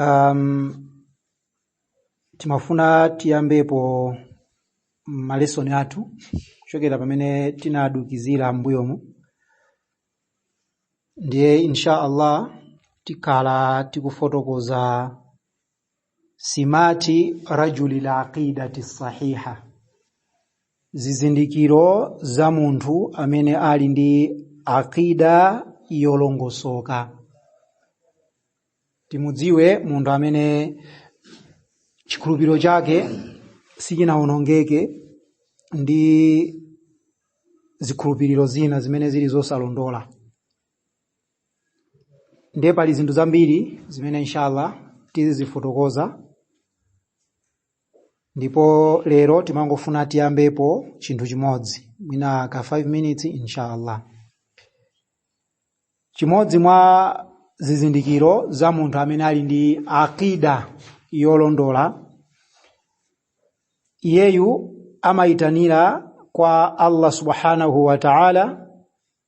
Um, timafuna tiyambepo malesoni athu kuchokera pamene tinadukizira m'mbuyomu ndiye insha allah tikhala tikufotokoza simati rajulil aqidati sahiha zizindikiro za munthu amene ali ndi aqida yolongosoka timudziwe munthu amene chikhulupiriro chake sichinawonongeke ndi zikhulupiriro zina zimene zili zosalondola ndiye pali zinthu zambiri zimene inshallah tizizifotokoza ndipo lero timangofuna tiyambepo chinthu chimodzi mwina ka 5 minutes inshallah chimodzi mwa zizindikiro za munthu amene ali ndi aqida yolondola iyeyu amayitanira kwa allah subhanahu wa ta'ala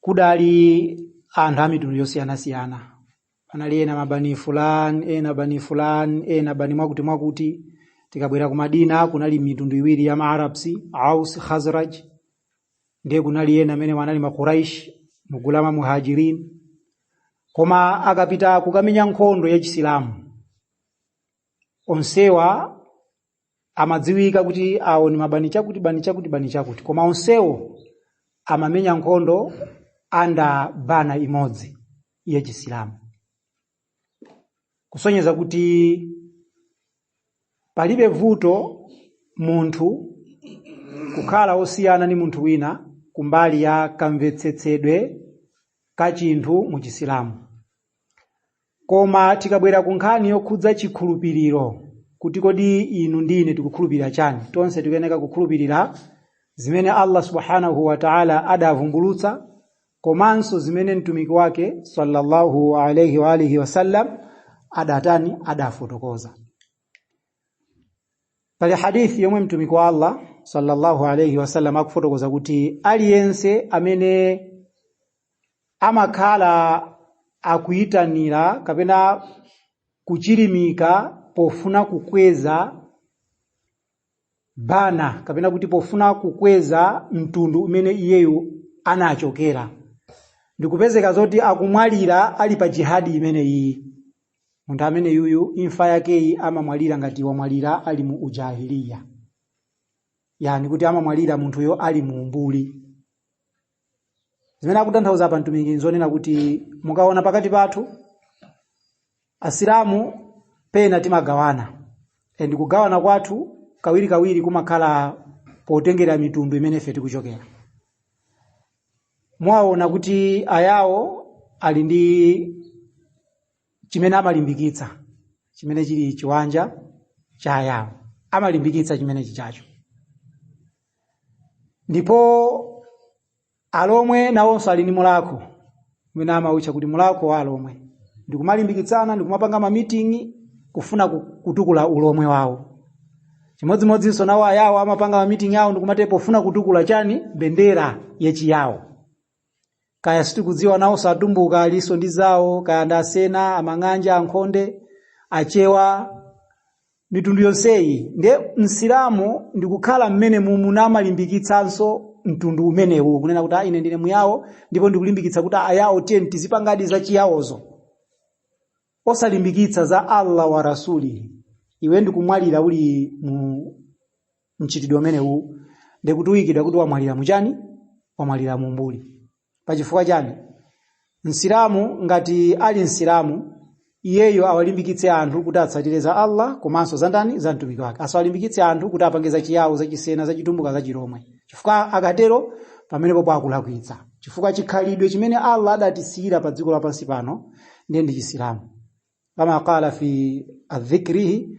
kudali anthu amitundu yosiyanasiyana anali ena mabani fulan ena bani fulan ena bani mwakuti mwakuti tikabwera ku madina kunali mitundu iwiri ya maarabs aus khazraj ndiye kunali ena amene wanali makuraish mu gulu la ma muhajirin koma akapita kukamenya nkhondo ya chisilamu onsewa amadziwika kuti awo ni mabani chakuti bani chakuti bani chakuti koma onsewo amamenya nkhondo under banner imodzi ya chisilamu kusonyeza kuti palibe vuto munthu kukhala osiyana ni munthu wina kumbali ya kamvetsetsedwe ka chinthu mu chisilamu Koma tikabwera ku nkhani yokhudza chikhulupiriro, kuti kodi inu ndi ine tikukhulupirira chani, tonse tikuyeneka kukhulupirira zimene Allah Subhaanahu wa Ta'ala adavumbulutsa komanso zimene Mtumiki wake sallallahu alayhi wa alihi wasallam adatani, adafotokoza. Pali hadith yomwe Mtumiki wa Allah sallallahu alayhi wasallam akufotokoza kuti aliyense amene amakhala akuitanira kapena kuchilimika pofuna kukweza banner kapena kuti pofuna kukweza mtundu umene iyeyo anachokera ndikupezeka zoti akumwalira ali pa jihadi imeneyi munthu ameneyuyu imfa yakeyi amamwalira ngati wamwalira ali mu ujahiliya yani kuti amamwalira munthuyo ali mu umbuli zimene akutanthauza apa mtumiki nzonena kuti mukaona pakati pathu asilamu pena timagawana and kugawana kwathu kawirikawiri kumakhala potengera mitundu imene ife tikuchokera mwaona kuti ayawo ali ndi chimene amalimbikitsa chimene chili chiwanja cha ayawo amalimbikitsa chimene chichacho ndipo alomwe nawonso ali ndi mulakho umene amautcha kuti mulakho wa alomwe ndikumalimbikitsana ndikumapanga mamiting'i kufuna ku- kutukula ulomwe wawo chimodzimodzinso nawo ayawo amapanga mamiting'i awo ndikumatero kufuna kutukula chani bendera yachiyawo kaya sitikudziwa nawonso atumbuka alinso ndi zawo kaya ndi asena amang'anja ankhonde achewa mitundu yonseyi nde msilamu ndikukhala mmenemu namalimbikitsanso mtundu umenewu kunena kuti ah ine ndine muyawo ndipo ndikulimbikitsa kuti ayawo tiyeni tizipangadi za chiyawozo osalimbikitsa za allah wa rasulihi iwe ndikumwalira uli mu mchitidwe umenewu ndikuti uyikidwa kuti wamwalira muchani wamwalira mumbuli pachifukwa chani msilamu ngati ali msilamu iyeyo awalimbikitse anthu kuti atsatire za allah komanso za ndani za mtumiki wake asawalimbikitse anthu kuti apange za chiyawo za chisena za chitumbuka za chilomwe chifukwa akatero pamenepo akulakwitsa chifukwa chikhalidwe chimene allah adatisiyira pa dziko lapansi pano ndiye ndi chisilamu kama qala fi dhikrihi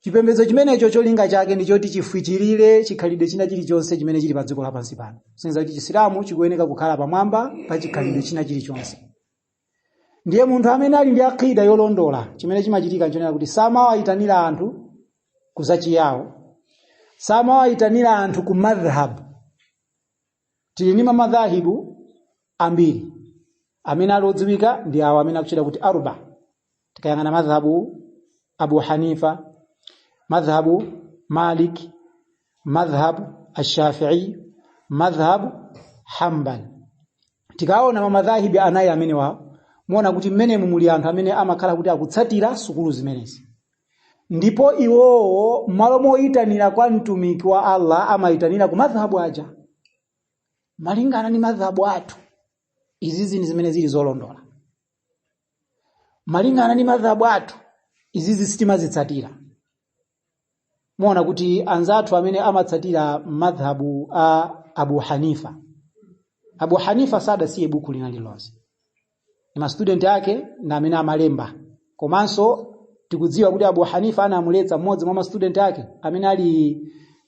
chipembedzo chimenecho cholinga chake ndi choti chifwichirire chikhalidwe china chilichonse chimene chili pa dziko lapansi pano kusonyeza kuti chisilamu chikuyeneka kukhala pamwamba pa chikhalidwe china chilichonse ndiye munthu amene ali ndi akida yolondola chimene chimachitika nchonena kuti samawayitanira anthu kuzachiyawo samawayitanira anthu ku madhhab tili ndi mamadhahibu ambiri amene ali odziwika ndi awo amene akutchedwa kuti arba tikayang'ana madhhabu abu hanifa madhhabu malik madhhabu ashafii madhhabu hambal tikaona mamadhahibu anayi amenewawo muona kuti mmenemu muli anthu amene amakhala kuti akutsatira sukulu zimenezi Ndipo iwowo mmalo moitanira kwa Mtumiki wa Allah amaitanira ku madhhab aja. Malingana ndi madhhab athu, izizi ndi zimene zili zolondola. Malingana ndi madhhab athu, izizi sitimazitsatira. Muona kuti anzathu amene amatsatira madhhab a Abu Hanifa. Abu Hanifa sadasiye buku lina lililonse. ndi mastudenti ake ndi amene amalemba komanso tikudziwa kuti abu hanifa anamuletsa mmodzi mwa mastudenti ake amene ali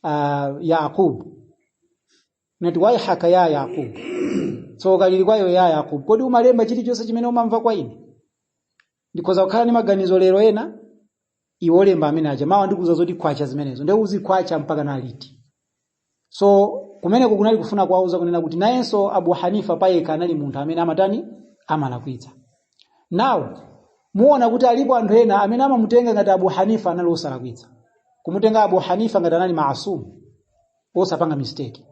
uh, yaqub nati waihaka ya yaqub tsoka lili kwa iwe ya yaqub kodi umalemba chilichonse chimene umamva kwa ine ndikhoza kukhala ndi maganizo lero ena iwe olemba amene aja mawa ndikuuza zoti kwacha zimenezo ndiye uzikwacha mpaka na liti so kumeneko kunali kufuna kuwauza kunena kuti nayenso abu hanifa payekha anali munthu amene amatani amalakwitsa now muona kuti alipo anthu ena amene amamutenga ngati abu hanifa anali osalakwitsa kumutenga abu hanifa ngati anali maasumu osapanga mistake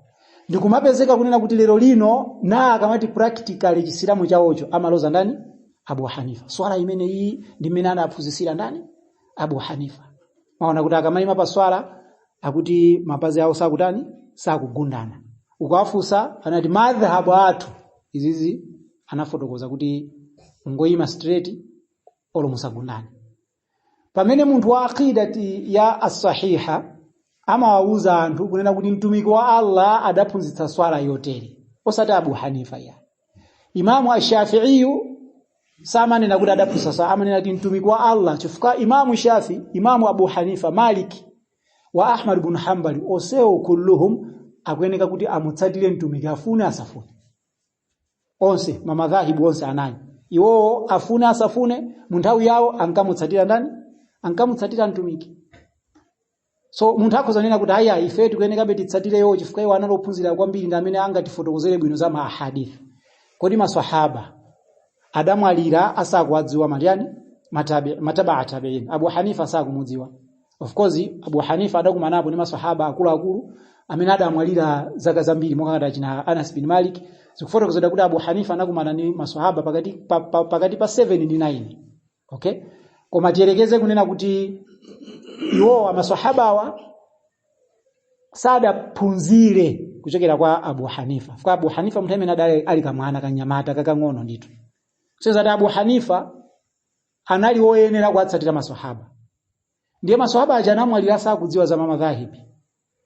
ndikumapezeka kunena kuti lero lino na akamati practically chisilamu chawocho amaloza ndani abu hanifa swala imene iyi ndi mmene anaphunzitsira ndani abu hanifa mwaona kuti akamayima pa swala akuti mapazi awo sakutani sakugundana ukawafunsa amati madhhabu athu izizi amafotokoza kuti ngoyima straight olo musagundane pamene munthu wa aqidati ya asahiha amawawuza anthu kunena kuti mtumiki wa allah adaphunzitsa swala yotere osati abu hanifa ya imamu ashafiiyu samanena kuti adaphunzitsa amanena kuti mtumiki wa allah chifukwa imamu shafi imamu abu hanifa maliki wa ahmad bun hambali onsewo kulluhum akuyeneka kuti amutsatire mtumiki afune asafune onse mamadhahibu onse anayi iwowo afune asafune mu nthawi yawo ankamutsatira ndani ankamutsatira mtumiki so munthu akhoza kunena kuti aya ife tikuyenekabe titsatire iwo chifukwa iwo anali ophunzira kwambiri ndi amene angatifotokozere bwino za maahadith kodi maswahaba adamwalira asakuwadziwa matani mataba tabiin abu hanifa asakumudziwa of course abu hanifa adakumanapo ndi masahaba akuluakulu amene adamwalira zaka zambiri monga ngati achina anas bin malik zikufotokozedwa kuti abu hanifa anakumana ndi masahaba pakati pa, pa, pakati pa 7 ndi 9 okay koma tiyerekeze kunena kuti iwowa masahabawa sadaphunzire kuchokera kwa abu hanifa kwa abu hanifa munthu amene adali ali kamwana kanyamata kakang'ono ndithu so zoti abu hanifa anali woyenera kuwatsatira maswahaba ndiye maswahaba aja anamwalira sakudziwa za mamadhahibi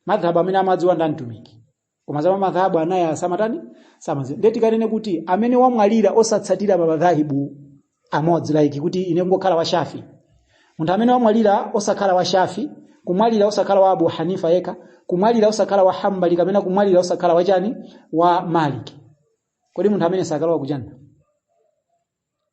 madhhabu amene amadziwa ndani mtumiki koma za mamadhabu anayi samatani samadziwa ndiye tikanene kuti amene wamwalira osatsatira mamadhahibu amodzi like kuti ine ngokhala wa shafi munthu amene wamwalira osakhala wa shafi kumwalira osakhala wa abu hanifa yekha kumwalira osakhala wa hambali kapena kumwalira osakhala wa chani wa maliki kodi munthu ameneyo sakalowa kujanna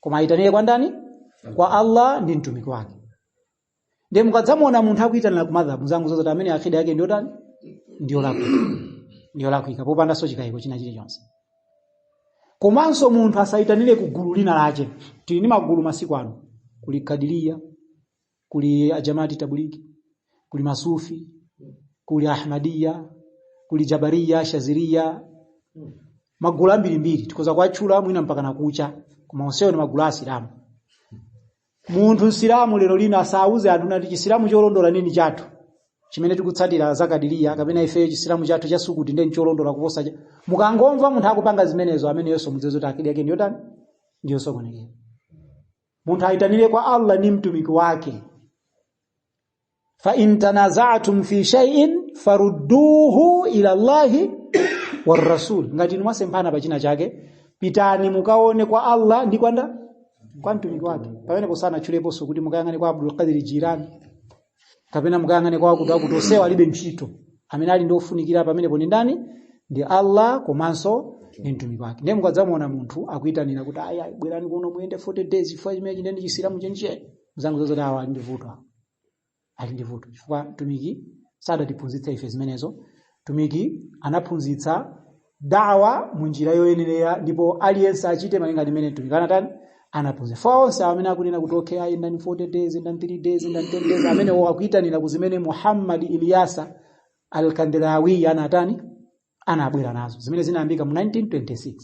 koma ayitanire kwa ndani kwa allah ndi mtumiki wake ndiye mukadzamuona munthu akuyitanira ku madhabu uzangozoti amene akida yake ndiyotani ndiyolakwika ndiyolakwika popandanso chikayiko china chilichonse komanso munthu asayitanire ku gulu lina lache tili ndi magulu masiku ano kuli kadiriya kuli ajamati tablighi kuli masufi kuli ahmadiya kuli jabariya shaziriya magulu ambirimbiri tikhoza kuwatchula mwina mpaka nakucha koma onsewo ni magulu a asilamu munthu msilamu lero lino asauze anthu nati chisilamu cholondola nini chathu chimene tikutsatira zakadiriya kapena ifeyo chisilamu chathu cha sukuti ndiye ncholondola kuposa cha mukangomva munthu akupanga zimenezo ameneyonso mudziwe zoti akida yake ndiyotani ndiyosokonekera munthu ayitanire kwa Allah ndi mtumiki wake fa in tanaza'tum fi shay'in farudduhu ila Allahi war rasul ngati inu mwasemphana pa china chake pitani mukaone kwa Allah ndi kwanda kwa mtumiki wake pamenepo sanatchuleponso kuti mukayang'ane kwa Abdul Qadir Jilani kapena mukayang'ane kwa akutiakuti onsewa alibe ntchito amene ali ofunikira pamenepo ndi ndani ndi allah komanso ndi mtumiki wake ndiye mukadzamuona munthu akuyitanira kuti ayi ayi bwerani kuno muyende 40 days chifukwa chimenechi ndiye chisilamu chenicheni muzangozoti awa ali ndi vuto awa ali ndi vuto chifukwa mtumiki sadatiphunzitse ife zimenezo mtumiki anaphunzitsa dawa mu njira yoyenerera ndipo aliyense achite malinga ndi mmene mtumiki anatani anaphunzitsa so onse amene akunena kuti okay ayenda 40 days ayenda 3 days ayenda 10 days amenewo akuyitanira ku zimene muhammad ilyasa alkandelawi anatani anabwera nazo zimene zinayambika mu 1926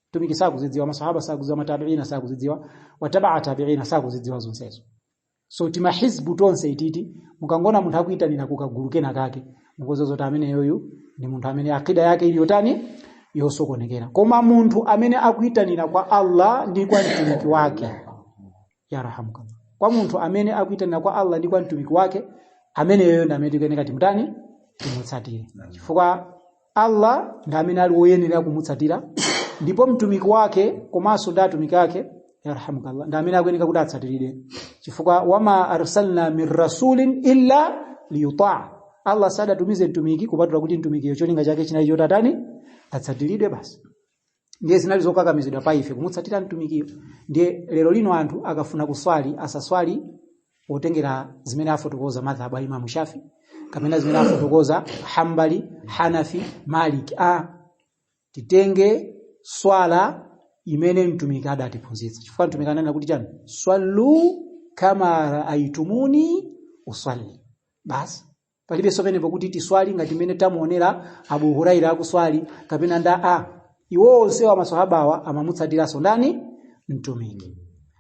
mtumiki sakuzidziwa masahaba sakuzidziwa matabiina sakuzidziwa watabaa tabiina sakuzidziwa zonsezo so timahizbu tonseti iti mukangoona munthu akuyitanira kukagulu kena kake mukuziwa zoti ameneyoyu ndi munthu amene akida yake ili yotani yosokonekera koma munthu amene akuyitanira kwa allah ndi kwa mtumiki wake yarhamukallah kwa munthu amene akuyitanira kwa allah ndi kwa mtumiki wake ameneyoyo ndi amene tikuyeneka timutani timutsatire chifukwa Allah ndi amene ali woyenera kumutsatira ndipo mtumiki wake komanso ndi atumiki ake yarhamukallah ndi amene akuyenera kuti atsatiridwe chifukwa wama arsalna min rasulin illa liyutaa Allah sadatumize mtumiki kupatula kuti mtumikiyo cholinga chake chinali chotatani atsatiridwe basi ndiye zinali zokakamizidwa pa ife kumutsatira mtumikiyo ndiye lero lino anthu akafuna kuswali asaswali potengera zimene afotokoza madhhabu a imamu shafi kapena zimene afotokoza hambali hanafi maliki a titenge swala imene mtumiki adatiphunzitsa chifukwa mtumiki ananena kuti chani swallu kama raaitumuni uswalli basi palibenso ponena kuti tiswali ngati mmene tamuonera abu huraira akuswali kapena ndani iwo onsewa maswahabawa amamutsatiranso ndani mtumiki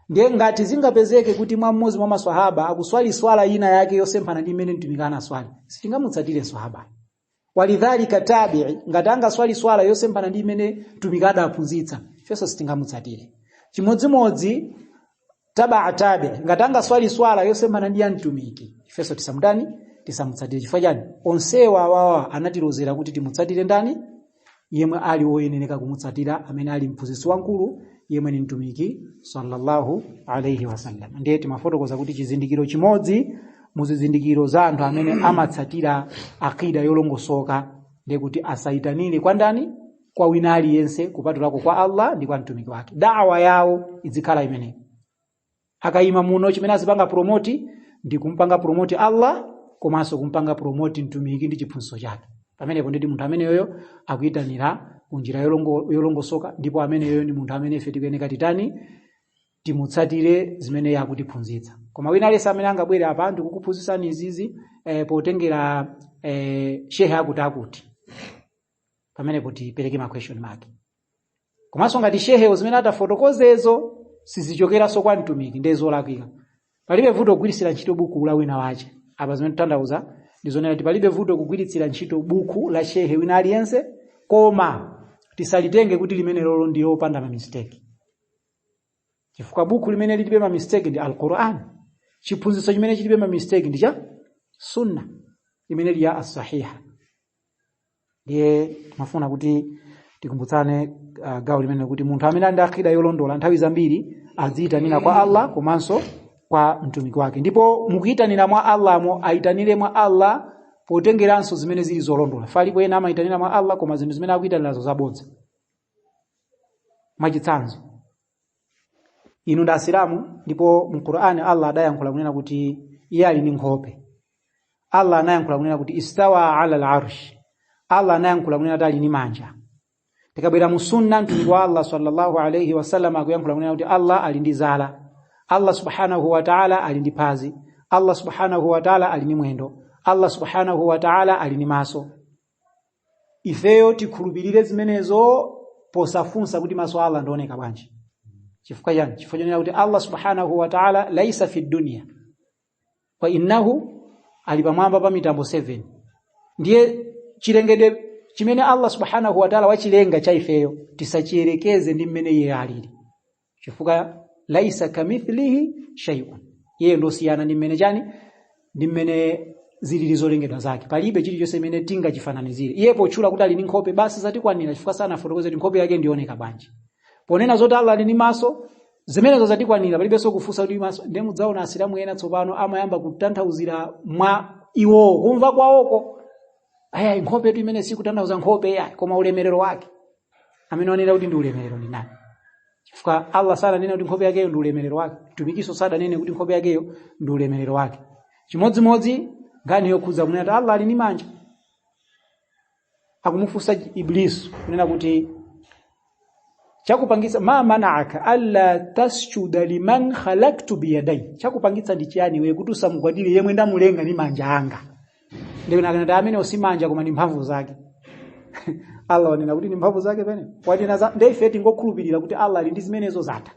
ndiye ngati zingapezeke kuti mwa mmodzi mwa maswahaba akuswali swala ina yake yosemphana ndi imene mtumiki anaswali sitingamutsatire swahaba wa kadhalika tabii ngati angaswali swala yosemphana ndi imene mtumiki adaphunzitsa ifenso sitingamutsatire chimodzimodzi tabaa tabii ngati angaswali swala yosemphana ndi ya mtumiki ifenso tisamutani tisamutsatire chifukwa chani onsewa awawa anatilozera kuti timutsatire ndani yemwe ali woyenereka kumutsatira amene ali mphunzitsi wamkulu yemwe ni mtumiki sallallahu alaihi wasallam ndiye timafotokoza kuti chizindikiro chimodzi muzizindikiro za anthu amene amatsatira akida yolongosoka ndiye kuti asayitanire kwa ndani kwa wina aliyense kupatulako kwa allah ndi kwa mtumiki wake dawa yawo idzikhala imeneyo akayima muno chimene azipanga promoti ndi kumpanga promoti allah komanso kumpanga promoti mtumiki ndi chiphunzitso chake pamenepo ndi munthu ameneyoyo akuyitanira kunjira yolongo- yolongosoka ndipo ameneyoyo ndi munthu amene ife tikuyeneka titani timutsatire zimene iye akutiphunzitsa koma wina aliyense amene angabwere apa ndikukuphunzitsani izizi eh, potengera eh, shehe akuti akuti pamenepo tipereke ma question mark komanso ngati shehewo zimene atafotokozezo sizichokeranso kwa mtumiki ndiye zolakwika palibe vuto kugwiritsira ntchito buku la wina wace apa zimene titanthauza ndi zonena kuti palibe vuto kugwiritsira ntchito buku la shehe wina aliyense koma tisalitenge kuti limenelolo ndi lopanda mamisteki chifukwa buku limene lilibe mamisteki ndi alquran chiphunzitso chimene chilibe mamisteki ndi cha sunna imene ili ya assahiha ndiye timafuna kuti tikumbutsane uh, gawo limeneli kuti munthu amene ali ndi akida yolondola nthawi zambiri adziyitanira kwa allah komanso kwa mtumiki wake ndipo mukuyitanira mwa allahmo ayitanire mwa allah potengeranso zimene zili zolondola alipo ena amayitanira mwa allah koma zinthu zimene akuyitanirazo zabodza mwachitsanzo inu ndi asilamu ndipo mu qur'ani allah adayankhula kunena kuti iye ali ndi nkhope allah anayankhula kunena kuti istawa ala larsh allah anayankhula kunena kuti ali ndi manja tikabwera mu sunna mtumiki wa allah sallallahu alaihi wasallam akuyankhula kunena kuti allah ali ndi zala allah subhanahu wa taala ali ndi phazi allah subhanahu wa taala ali ndi mwendo allah subhanahu wa taala ali ndi maso ifeyo tikhulupirire zimenezo posafunsa kuti maso a allah ndi ooneka bwanji chifukwa chani chifukwa chonena kuti allah subhanahu wa taala laisa fi dunia wa innahu ali pamwamba pa mitambo 7 ndiye chilengedwe chimene allah subhanahu wa taala wachilenga cha ifeyo tisachiyerekeze ndi mmene iye alili chifukwa laisa kamithlihi shay'un iye ndosiyana ndi mmene chani ndi mmene zilili zolengedwa zake palibe chilichonse chimene tingachifananizire iye potchula kuti ali ndi nkhope basi zatikwanira chifukwa sanafotokoze kuti nkhope yake ndioneka bwanji ponena zoti allah ali ndi maso zimenezo zatikwanira palibenso kufunsa kuti maso ndiye mudzaona asilamu ena tsopano amayamba kutanthauzira mwa iwowo kumva kwawoko ayayi nkhopetu imeneyi sikutanthauza nkhope yayi koma ulemerero wake amene wanena kuti ndi ulemerero ndi ndani chifukwa allah sadanene kuti nkhope yakeyo ndi ulemerero wake mtumikiso sadanene kuti nkhope yakeyo ndi ulemerero wake chimodzimodzi nkhani yokhudza kunena kuti allah ali ndi manja akumufunsa iblisu kunena kuti chakupangitsa ma manaka alla tasjuda liman khalaktu biyadai chakupangitsa ndi chiyani iwe kuti usamugwadire yemwe ndamulenga ndi manja anga ndikunena kuti amenewo si manja koma ndi mphamvu zake allah wanena kuti ndi mphamvu zake kapena wanena za nde ife tingokhulupirira kuti allah ali ndi zimenezo zatha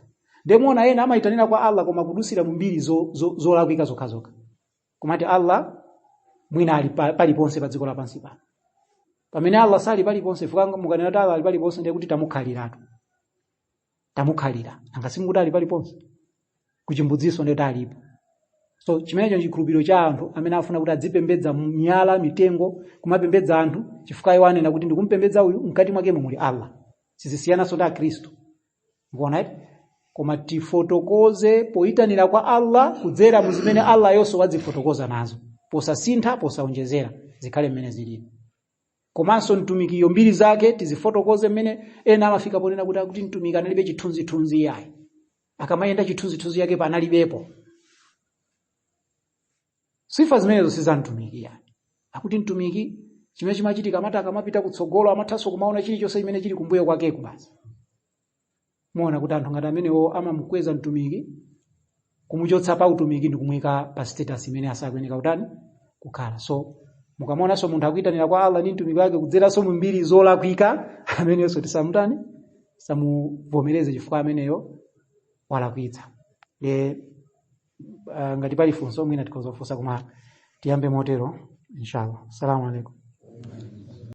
nde muona ena amayitanira kwa allah koma kudutsira mu mbiri zo- zo- zolakwika zokhazokha kumati allah mwina ali pa- paliponse pa dziko lapansi pano pamene allah sali paliponse chifukwa mukanena kuti allah ali paliponse ndiye kuti tamukhaliratu tamukhalira nanga simukuti ali paliponse kuchimbudzinso ndiye kuti alipo so chimenecho ndi chikhulupiriro cha anthu amene afuna kuti adzipembedza miyala mitengo kumapembedza anthu chifukwa iwo anena kuti ndikumpembedza uyu mkati mwakemo muli allah sizisiyananso ndi akhristu mukuona eti koma tifotokoze poyitanira kwa allah kudzera mu zimene allah-yonso wadzifotokoza nazo posasintha posaonjezera zikhale mmene zilili komanso mtumikiyo mbiri zake tizifotokoze mmene ena amafika ponena kuti akuti mtumiki analibe chithunzithunzi iyayi akamayenda chithunzithunzi yake panalibepo sifa zimenezo si za mtumiki iyayi akuti mtumiki chimene chimachitika amati akamapita kutsogolo amathanso kumaona chilichonse chimene chili kumbuyo kwakeko basi muona kuti anthu ngati amenewo amamukweza mtumiki kumuchotsa pa utumiki ndi kumuyika pa status imene asakuyeneka kutani kukhala so mukamaonanso munthu akuyitanira kwa allah ndi mtumiki wake kudzeranso mu mbiri zolakwika ameneyonso tisamutani tisamuvomereze chifukwa ameneyo walakwitsa e, uh, ngati pali funso mwina tikhoza kufunsa koma tiyambe motero inshallah assalamu alaikum